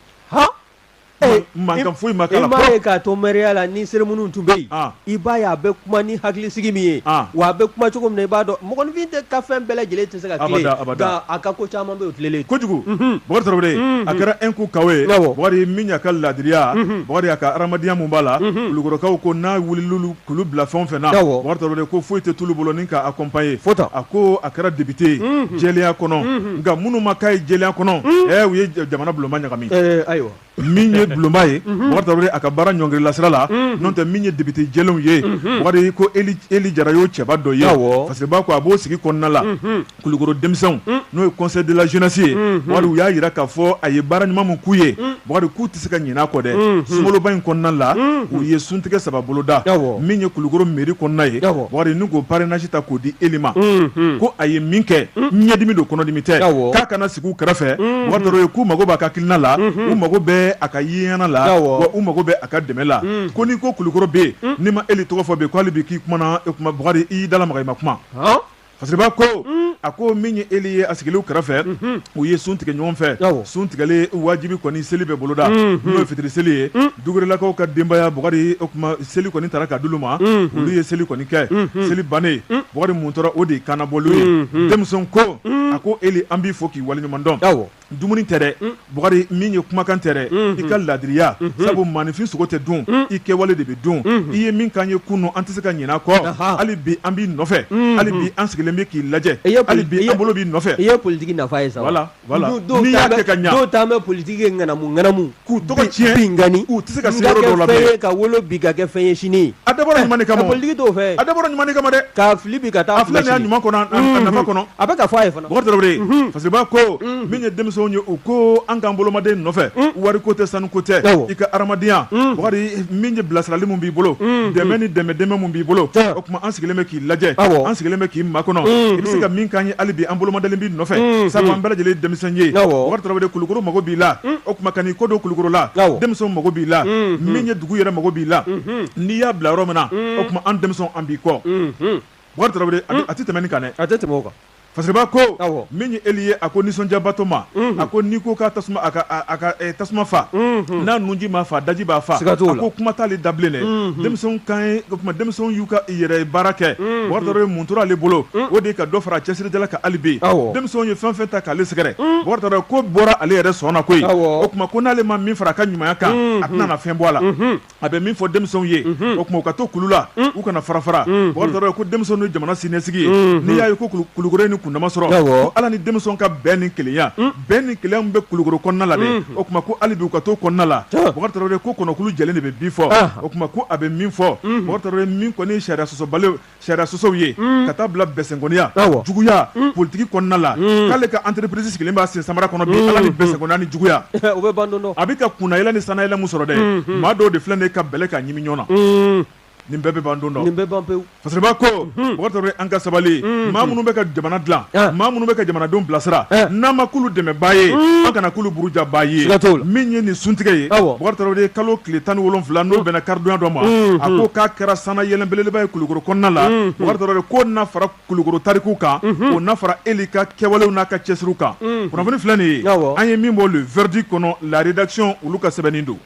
Mankan foyi ma k'a la, i m'a ye k'a to mɛriya la ni cérémonie tun bɛ yen, an, i b'a ye a bɛ kuma ni hakilisigi min ye, an, wa a bɛ kuma cogo min na i b'a dɔn mɔgɔninfin tɛ ka fɛn bɛɛ lajɛlen tɛ se ka tilen, abada abada, nka a ka ko caman bɛ yen o tilelen kojugu, unhun, Bukari Tarawele, unhun, a kɛra un coup KO ye, awɔ, Bukari min y'a ka laadiriya, unhun, Bukari a ka hadamadenya min b'a la, unhun, kulukɔrɔkaw ko n'a wulila K'olu bila fɛn o fɛn na Bukari Tarawele ko foyi tɛ t'olu bolo ni k'a accompagner a ko a kɛra depite jɛlenya kɔnɔ nka minnu ma k'a ye jɛlenya kɔnɔ u ye jamana bulonba ɲagami ayiwa min ye bulonba ye Bukari Tarawele a ka baara ɲɔngirila sira la n'o tɛ min ye depite jɛlenw ye Bukari ko Ely Jara y'o cɛba dɔ ye Fasiriba ko a b'o sigi kɔnɔna la kulukoro denmisɛnw n'o ye conseil de la jeunesse ye Bukari u y'a jira k'a fɔ a ye baara ɲuman min k'u ye Bukari k'u tɛ se ka ɲinɛ a kɔ dɛ sunkaloba in kɔnɔna la u ye suntigɛ saba boloda min ye kulukoro mairie kɔnɔna ye Bukari ni k'o parrainage ta k'o di Ely ma ko a ye min kɛ ɲɛdimi don kɔnɔdimi tɛ k'a ka na sigi u kɛrɛfɛ Bukari Tarawele k'u mago b'a ka hakilina la u mago bɛ a ka yeɲɛna la wa u mago bɛ a ka dɛmɛ la ko n'i ko kulukoro bɛ yen n'i ma Ely tɔgɔ fɔ bi ko hali bi k'i kumana Bukari i y'i dalamaga i ma kuma. Fasiriba ko a ko min ye Ely ye a sigilen u kɛrɛfɛ u ye sun tigɛ ɲɔgɔn fɛ sun tigɛlen wajibi kɔni seli bɛ boloda n'o ye fitiri seli ye Dukurelakaw ka denbaya Bukari o kuma seli kɔni taara ka d'olu ma olu ye seli kɔni kɛ seli bannen Bukari mun tora o de ye kanbɔli ye denmisɛn ko a ko Ely an b'i fo k'i waleɲumandɔn dumuni tɛ dɛ Bukari min ye kumakan tɛ dɛ i ka laadiriya sabu maaninfin sogo tɛ dun i kɛwale de bɛ dun i ye min k'an ye kunu an tɛ se ka ɲinɛ a kɔ hali bi an b'i nɔfɛ hali bi an sigilen bɛ k'i lajɛ hali bi an bolo b'i nɔfɛ i ye politiki nafa ye sa n'i y'a kɛ ka ɲa dɔw ta bɛ politiki kɛ ŋanamu ŋanamu k'u tɔgɔ tiɲɛ bi kɔni u tɛ se ka se yɔrɔ dɔw la bilen. N ka kɛ fɛn ye ka wolo bi ka kɛ fɛn ye sini. A dabɔra ɲuman de kama o. Ka politiki t'o fɛ. A dabɔra ɲuman de kama dɛ. K'a fili bi ka taa a filɛ sini. A filɛ nin y'a ɲuman kɔnɔ a nafa kɔnɔ. A bɛ ka fɔ a ye fana. Bɔkari Tarawele. Unhun. Fasiriba ko. Unhun. Min ye denmisɛnw ye u ko an k'an bolomada i nɔfɛ. Un. Wari ko tɛ sanu ko tɛ. Awɔ. I ka hadamadenya. Un. Bɔkari min ye bilasirali min b'i bolo. Unhun. Dɛmɛ ni dɛmɛ dɛmɛ min b'i bolo. Tiɲɛ. Kuma an sigilen bɛ k'i lajɛ an sigilen bɛ k'i makɔnɔ i bɛ se ka min k'an ye hali bi an bolomadalen b'i nɔfɛ sabu an bɛɛ lajɛlen denmisɛn ye Bukari Tarawele Kulukoro mako b'i la o kuma ka n'i ko don kulukorola denmisɛnw mako b'i la min ye dugu yɛrɛ mako b'i la n'i y'a bila yɔrɔ min na o kuma an denmisɛn an b'i kɔ Bukari Tarawele a tɛ tɛmɛ nin kan a tɛ tɛmɛ kan Fasiriba ko min ye Eli ye a ko nisɔndiyabatɔma a ko n'i ko ka tasuma a ka tasuma faa n'a nunji ma faa daji b'a faa a ko kuma t'ale da bilen dɛ denmisɛnw kan o kuma denmisɛnw y'u ka yɛrɛ baara kɛ Bugari Tarawele min tora ale bolo o de ye ka dɔ fara a cɛsirijala kan hali bi denmisɛnw ye fɛn fɛn ta k'ale sɛgɛrɛ Bugari Tarawele ko bɔra ale yɛrɛ sɔnna koyi o kuma ko n'ale ma min fara a ka ɲumanya kan a tɛna fɛn bɔ a la a bɛ min fɔ denmisɛnw ye o kuma u ka to kulu la u kana fara fara Bugari Tarawele ko denmisɛnninw ye jamana siniɲɛsigi ye n'i y'a ye ko kulukɔrɔ ni kundama sɔrɔ ala ni denmisɛnw ka bɛn ni kelenya bɛn ni kelen bɛ kulukɔrɔ kɔnɔna la dɛ o kuma ko hali bi u ka to kɔnɔna la Bugari Tarawele ko kɔnɔkulu jɛlen de bɛ bi fɔ o kuma ko a bɛ min fɔ Bugari Tarawele min kɔni sariya sɔsɔba sariya sɔsɔw ye mm. ka taa bila bɛsɛnkɔniya juguya mm. politiki kɔnɔna la mm. k'ale ka entreprise sigilen b'a sen samara kɔnɔ bi ala ni bɛsɛnkɔniya ni juguya bɛ ban don dɔ a bɛ ka kunnayɛlɛ ni sanayɛlɛ min sɔrɔ dɛ maa dɔw de filɛ nin ye ka bɛlɛ ka ɲimi ɲɔgɔn na nin bɛɛ bɛ ban don dɔ nin bɛɛ ban pewu fasiriba ko mhm. Bugari Tarawele an ka sabali mhm. maa minnu bɛ ka jamana dilan ah. maa minnu bɛ ka jamanadenw bilasira eh. n'an ma kulu dɛmɛbaa ye mhm. an kana kulu burujabaa ye min ye nin suntigɛ ye Bugari Tarawele kalo tile tan ni wolonwula n'o bɛnna karidonya dɔ ma a ko k'a kɛra sanayɛlɛ belebeleba ye kulukoro kɔnɔna la Bugari Tarawele ko na fara kulukoro tariku kan o na fara Eli ka kɛwalew n'a ka cɛsiri kan kunnafoni filɛ nin ye an ye min bɔ le verdict kɔnɔ la rédaction olu ka sɛbɛnnen don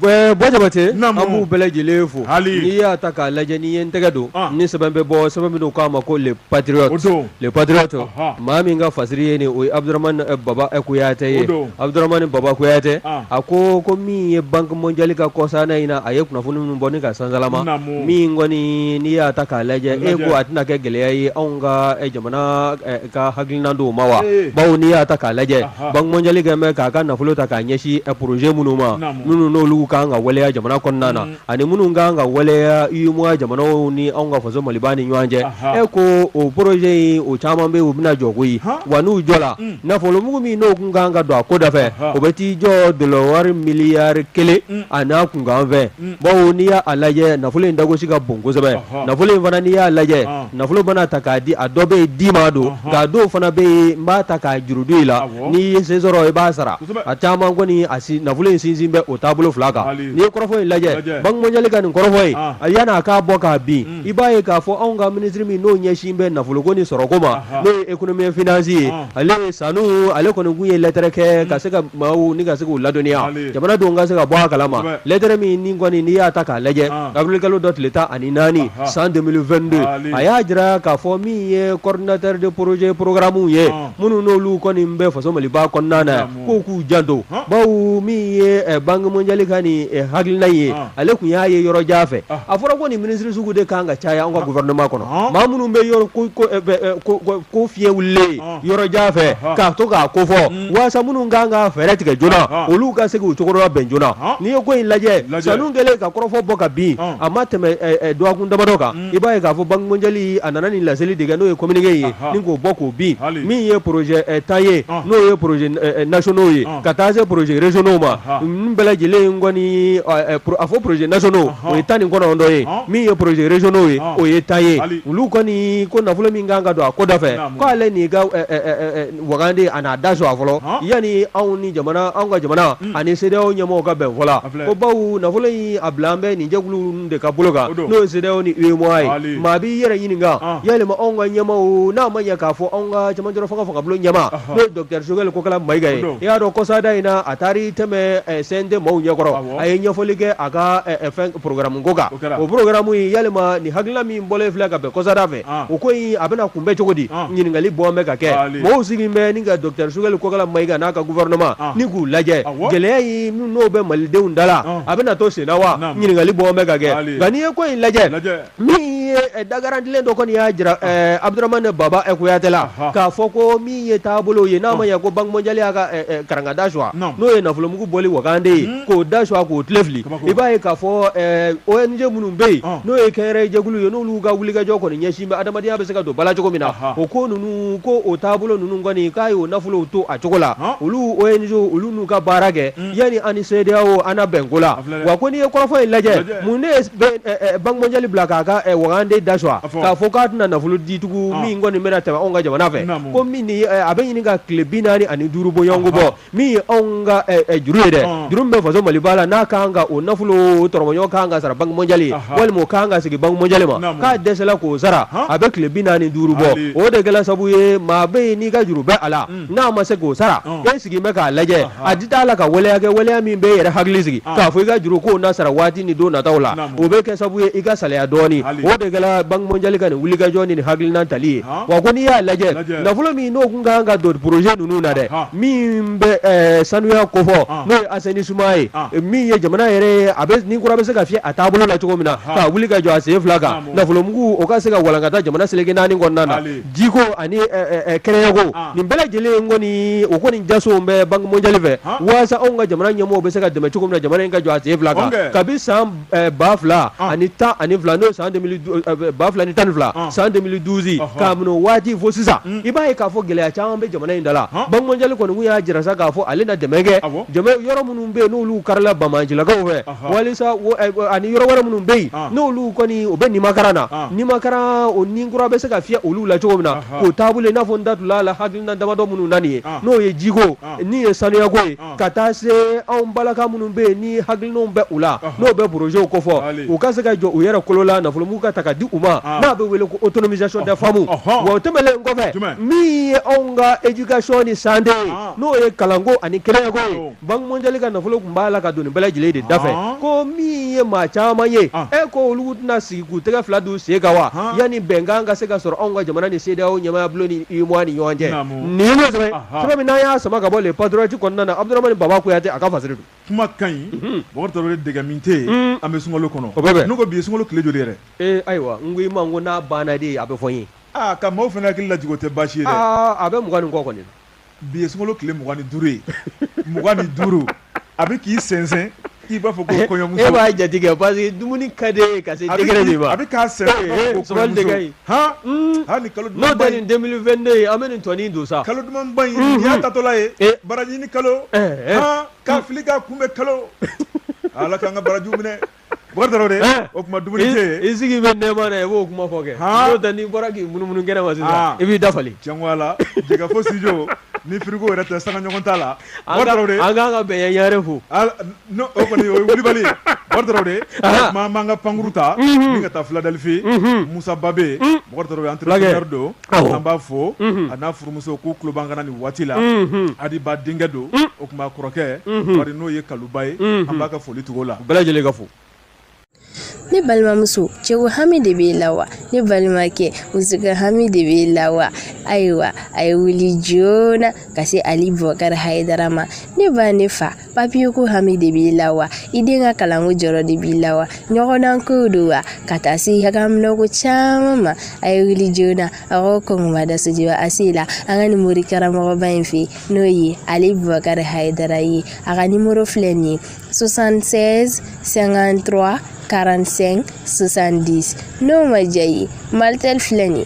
Bɔ Jabatɛ an b'u bɛɛ lajɛlen fo hali n'i y'a ta k'a lajɛ n' ye n tɛgɛ don ni sɛbɛn bɛ bɔ sɛbɛn min k'a ma ko le patriote le patriote Aha. maa min ka fasiri ye nin o ye abdurahmani eh, baba eh, kuyate ye O don. abdurahmani baba kuyate Ah. a ko ko min ye banque mondiale ka kɔsana in na a ye kunnafoni minnu bɔ ni ka sansalama Naamu. min kɔni n'i y'a ta k'a lajɛ e Lajɛ. ko a tɛna kɛ gɛlɛya ye anw ka eh, jamana eh, ka hakilinan dɔw ma wa Eh. bawo n'i y'a ta k'a lajɛ Aha. banque mondiale kun bɛ k'a ka nafolo ta k'a ɲɛsin eh, projet minnu ma Naamu. minnu n'olu kun ka kan ka waleya jamana kɔnɔna na ani minnu kan ka waleya UEMOA jamanaw ni anw ka faso Maliba ni ɲɔgɔn cɛ, anhan, e ko o projet in o caman bɛ yen u bɛna jɔ koyi, han, wa n'u jɔla, un, nafolomugu min n'o tun ka kan ka don a ko da fɛ, anhan, o bɛ t'i jɔ dɔlɔwari miliyari kelen un, a n'a kunkanfɛn, un, bawo n'i y'a lajɛ nafolo in dagosi ka bon kosɛbɛ, anhan, nafolo in fana n'i y'a lajɛ, an, nafolo mana ta k'a di a dɔ bɛ yen di ma don, anhan, nka a dɔw fana bɛ yen n b'a ta k'a juru don i la, awɔ, n'i ye se sɔrɔ i b'a sara, kosɛbɛ, a caman kɔni nafolo in sinsin bɛ o taabolo fila kan. n'i ye kɔrɔfɔ in lajɛ Lajɛ. Banque mondiale ka nin kɔrɔfɔ in Ah. a yani a ka bɔ ka bin i b'a ye k'a fɔ anw ka ministre min n'o ɲɛsin bɛ nafoloko ni sɔrɔko ma Aha. n'o ye économie et finance ye Ah. ale Sanu ale kɔni kun ye lɛtɛrɛ kɛ ka se ka maaw ni ka se k'u ladɔnniya Ale. jamanadenw ka se ka bɔ a kalama Kosɛbɛ. lɛtɛrɛ min ni kɔni n'i y'a ta k'a lajɛ Ah. avril kalo dɔ tile tan ani naani Aha. san 2022 Ale. a y'a jira k'a fɔ min ye coordinateur de projet programme ye Ah. minnu n'olu kɔni bɛ faso maliba kɔnɔna na Naamu. ko k'u janto bawo min ye Banque mondiale ka nin hakilina ye ale kun y'a ye yɔrɔ jan fɛ a fɔra ko nin minisiri sugu de kan ka caya an ka gouvernement kɔnɔ maa minnu bɛ ko fiyɛ wulilen yɔrɔ jan fɛ k'a to k'a ko fɔ waasa minnu kan ka fɛɛrɛ tigɛ joona olu ka se k'u cogo dɔ bɛn joona n'i ye ko in lajɛ Sanu kɛlen ka kɔrɔfɔ bɔ ka bin a ma tɛmɛ dɔgɔkun damadɔ kan i b'a ye k'a fɔ Banque mondiale a nana nin laseli de kɛ n'o ye communiqué ye ni k'o bɔ k'o bin min ye projet tan ye n'o ye projet nationaux ye ka taa se projet régionaux ma n bɛɛ lajɛlen kɔni a fɔ projet nationaux o ye tan ni kɔnɔntɔn ye min ye projet régionaux ye o ye tan ye olu kɔni ko nafolo min kan ka don a ko da fɛ k'ale nin ka wagande a n'a da suwa fɔlɔ yani anw ni an ka jamana ani CEDEAO ɲɛmɔgɔw ka bɛn fɔ Ko bawo nafolo in a bilan bɛ nin jɛkulu de ka bolo kan n'o ye CEDEAO ni UEMOA ye maa b'i yɛrɛ ɲininka yalima anw ka ɲɛmaaw n'a ma ɲɛ k'a fɔ anw ka cɛmancɛ fanga fanga bulon ɲɛmaa n'o ye dɔkitɛri sogɛl kokala mayiga ye i y'a dɔn kɔsada in na a taara i tɛmɛ CNT maaw ɲɛkɔrɔ a ye ɲɛfɔli kɛ a ka fɛn programme ko kan o programme in yalima nin hakilina min bɔlen filɛ ka bɛn kɔsada fɛ ah. o ko in a bɛna kunbɛn cogo di ah. ɲininkali bɔn bɛ ka kɛ ah, mɔgɔw sigi bɛ ni ka dɔkitɛri sogɛl kokala mayiga n'a ka guvɛrɛnɛma ah. ni k'u lajɛ gɛlɛya in n'o bɛ malidenw da la ah. a bɛna to senna wa ɲininkali bɔn bɛ ka kɛ nka n'i ye ko in lajɛ min ye eh, dagarantilen dɔ kɔni y'a jira ah. eh, abudurahmane baba eh, kuyatɛ la k'a fɔ ko min ye taabolo ye n'a ma ɲɛ ko banki mɔnjali y'a ka karanga da suwa n'o ye nafolomugu bɔli wagande ye hmm. k'o da suwa k'o kile fili I b'a ye k'a fɔ ONG minnu bɛ yen n'o ye kɛnyɛrɛye jɛkulu ye n'olu ka wulikajɔ kɔni ɲɛsin bɛ adamadenya bɛ se ka don ba la cogo min na o ko ninnu ko o taabolo ninnu kɔni k'a ye o nafolow to a cogo la olu ONG olu n'u ka baara kɛ yani an ni CEDEAO an na bɛn ko la wa ko n'i ye kɔrɔfɔ in lajɛ mun ne ye Banque mondiale bila k'a ka wagande da suwa k'a fɔ k'a tɛna nafolo di tugun min kɔni bɛna tɛmɛ anw ka jamana fɛ ko min a bɛ ɲini ka tile bi naani ani duuru bɔɲɔgɔnko bɔ min ye anw ka eh, eh, juru ye dɛ Ɔn. juru min bɛ faso Maliba la n'a ka kan ka o nafolo tɔrɔmɔɲɔgɔn ka kan ka sara banque mondiale ye Aha. walima o ka kan ka sigi banque mondiale ma Naamu. k'a dɛsɛla k'o sara Han. a bɛ tile bi naani ni duuru bɔ Hali. o de kɛla sabu ye maa bɛ yen n'i ka juru bɛ a la n'a ma se k'o sara Ɔn. e sigi bɛ k'a lajɛ Aha. a di t'a la ka waleya kɛ waleya min bɛ e yɛrɛ hakili sigi Ɔn. k'a fɔ i ka juru k'o na sara waati ni don nataw la Naamu. o bɛ kɛ sabu ye i ka salaya dɔɔni Hali. o de kɛla banque mondiale ka nin wulikajɔ ni nin hakilina tali ye Ɔn. wa ko n'i y'a lajɛ nafolo min n'o kun ka kan ka don projet ninnu na dɛ min bɛ sanuya kofɔ n'o ye assainissement ye min ye jamana yɛrɛ a bɛ ni kura bɛ se ka fiyɛ a taabolo la cogo min na k'a wuli ka jɔ a sen fila kan nafolomugu o ka se ka walankata jamana seleke naani kɔnɔna na jiko ani kɛnɛyako nin bɛɛ lajɛlen kɔni o kɔni jaso bɛ Banque mondiale fɛ waasa anw ka jamana ɲɛmɔgɔw bɛ se ka dɛmɛ cogo min na jamana in ka jɔ a sen fila kan kabi san ba fila ani tan ani fila n'o ye san ba fila ni tan ni fila san deux mille douze k'a minɛ waati fo sisan i b'a ye k'a fɔ gɛlɛya caman bɛ jamana in da la Banque mondiale kɔni kun y'a jira sa k'a fɔ ale na dɛmɛ kɛ yɔrɔ minnu bɛ yen n'olu karila banbaancilakaw fɛ walisa ani yɔrɔ wɛrɛ minnu bɛ yen n'olu kɔni u bɛ nimakaran na nimakaran o ni kura bɛ se ka fiyɛ olu la cogo min na k'o taabolo n'a fɔ n da tun' la hakilina damadɔ minnu na nin ye n'o ye jiko n' ye sanuyako ye ka taa se anw balaka minnu bɛ yen ni hakilinaw bɛ u la n'o bɛ projets kofɔ u ka se ka jɔ u yɛrɛ kolo la nafolomugu ka ta ka di u ma n'a bɛ wele ko autonomisation des femmes wa o tɛmɛlen kɔfɛ min ye anw ka éducation ni santé ye n'o ye kalanko ani kɛnɛyako ye Banque mondiale ka nafolo tun b'a la ka don nin bɛɛ lajɛlen de da fɛ ko min ye maa caman ye e ko olu tɛna sigi k'u tɛgɛ fila d'u sen kan wa yanni bɛnkan ka se ka sɔrɔ anw ka jamana ni CEDEAO ɲɛmaaya bulon ni UEMOA ni ɲɔgɔn cɛ nin ye sɛbɛn min n'an y'a sama ka bɔ Le Patriote kɔnɔna na Abudaramani Baba Kuyate a ka fasiri don, kuma ka ɲi, unhun, Bɔkari Tarawele dɛgɛ min tɛ yen an bɛ sunkalo kɔnɔ, o bɛ bɛn, ne ko bi ye sunkalo tile joli yɛrɛ? ee ayiwa n ko i ma ko n'a banna de a bɛ fɔ n ye, aa ka maaw fana hakili lajigin o tɛ baasi ye dɛ, aa a bɛ mugan ni kɔ kɔni na, bi ye sunkalo tile mugan ni duuru ye, mugan ni duuru a bɛ k'i sɛnsɛn i b'a fɔ ko eh, kɔɲɔmuso e b'a jate kɛ parce que dumuni ka di ye ka se degré min ma a bɛ k'a sɛnsɛn i b'a fɔ ko kɔɲɔmuso han hmm. hali ni kalo dumanba in n'o tɛ nin 2022 ye an bɛ nin tɔni don sa kalo dumanba in nin hmm. y'a tatɔla ye eh. baraji ɲini kalo eh, han k'a fili k'a kunbɛn kalo ala k'an ka barajiw minɛ Bɔ dɔrɔn de o tuma dumuni i sigi bɛ nɛma na i b'o kuma fɔ kɛ tɛ n'i bɔra k'i munumunu kɛnɛ ma sisan i b'i dafali cɛ la jɛgɛ fo sij ni fiko yɛrɛ tɛ san ɲɔgɔn t'a la an ka bɛn yɛrɛ fo o kɔni o kulubali dɔrɔn de tuma b'an ka pankkuru ta ka taa filadalifin musababe an don An b'a fo a n'a furumuso k'u tulo b'an kan na nin waati la Adiba denkɛ don o tuma kɔrɔkɛ Bari n'o ye Kaluba ye an b'a ka foli tugu o la bɛɛ lajɛlen ka fo ne balimamuso cɛko hami de b'e la wa ne balimakɛ musoko hami de b'e la wa ayiwa a ye wuli joona ka se Ali Bubakari Hayidara ma ne ba ne fa papiye ko hami de b'i la wa i den ka kalanko jɔrɔ de b'i la wa ɲɔgɔndan ko don wa ka taa se ɲagaminɛko caman ma a ye wuli joona a ko kɔngɔba dasujiba a se la an ka nin mori karamɔgɔba in fɛ n'o ye Ali Bubakari Hayidara ye a ka nimoro filɛ nin ye 76 53 45 70 n'o ma diya i ye malitel filɛ nin ye